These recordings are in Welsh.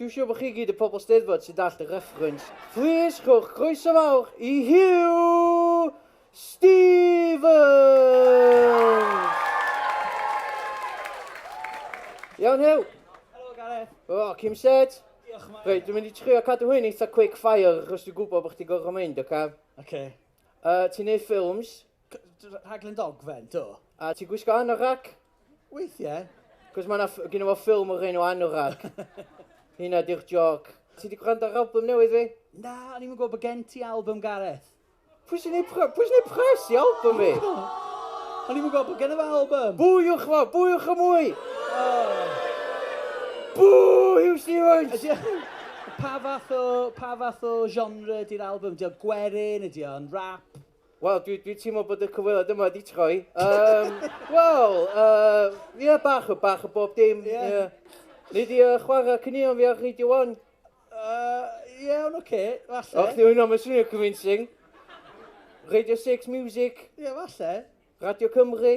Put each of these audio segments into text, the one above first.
Dwi'n siŵr bod chi gyd y pobl Steddfod sy'n dallt y reference. Plis rhowch groeso fawr i Hugh Stevens! Iawn Hugh? Helo Gareth. O, oh, Kim Set. Diolch Mike. Reit, dwi'n mynd i trio cadw hyn eitha quick fire achos dwi'n gwybod bod chdi gorfod mynd, oce? Okay? Oce. Okay. Uh, ti'n neud ffilms? Rhaglen dogfen, do. A ti'n gwisgo anorak? Weithiau. Cos mae yna gyda fo ffilm o'r enw Anorak. Hynna di'r joc. Ti wedi gwrando ar album newydd fi? Na, o'n i'n gwybod bod gen ti album Gareth. Pwy sy'n ei pres? Pwy sy'n ei pres i album fi? O'n i'n gwybod bod gen i fo album. Bwywch fo, bwywch y mwy! Bw, Hugh Stevens! Pa fath o, pa fath o genre di'r album? Dio gwerin, ydi o'n rap? Wel, dwi, dwi teimlo bod y cyfweliad yma wedi troi. Um, Wel, uh, yeah, bach, bach o bob dim. Yeah. yeah. Nid i uh, chwarae cynnion fi ar Radio 1. Uh, yeah, ond oce, okay, falle. Och, dwi'n hwnna, mae'n swnio convincing. Radio 6 Music. Ie, yeah, falle. Radio Cymru.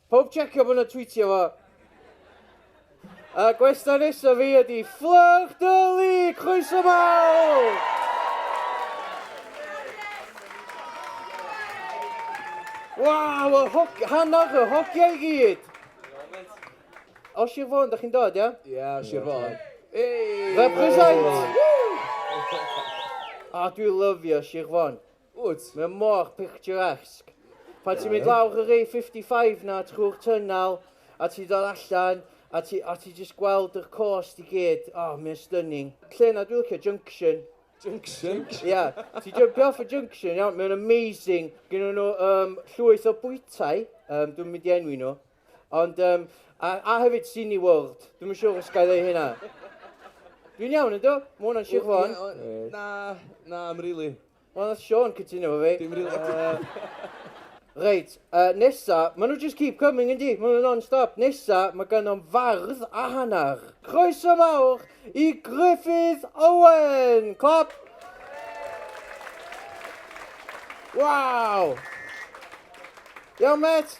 Pawb checio bod 'na tweetio fo. A gwesta nesa fi ydi Fflyrch Dyli! Croeso mawr! Waw, y hog... hanner y hogia i gyd! O Sir Fôn, da chi'n dod, ia? Ia, Sir Fôn. Represent! A dwi lyfio Sir Fôn. Ww, mae o mor picturesque. Pan ti'n mynd lawr yr A55 na trwy'r tunnel, a ti'n dod allan, a ti, a ti jyst gweld yr coast i gyd, o, oh, mae'n stunning. Lle na dwi'n licio, Junction. Junction? Ia, yeah. ti'n jumpio off y Junction, iawn, mae'n amazing. Gynnu nhw um, llwyth o bwytai, um, dwi'n mynd i enwi nhw. Ond, um, a, a hefyd Cine World. Dwi'n yn siŵr os gael ei hynna. Dwi'n iawn, ynddo? Mae hwnna'n Sir Fôn. Na, na, am rili. Wel, nath Sean cytuno fo fi. Dim rili. Uh, reit, uh, nesa, maen nhw just keep coming yndi, maen nhw non-stop. Nesa, mae ganom fardd a hanner. Croeso mawr i Griffith Owen! Clap! Wow! Iawn, met!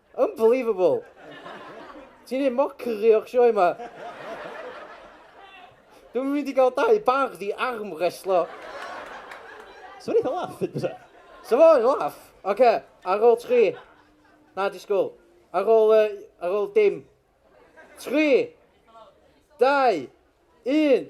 Unbelievable! Ti'n neud mockery o'r sioe ma. Dwi'm yn mynd i gael dau bardd i armrestlo. Sa fo'n eitha laff fyd bysa? Sa fo'n laff! Ocê, ar ôl tri. Na, disgwyl. Ar ôl yy, ar ôl dim. Tri! Dau! Un!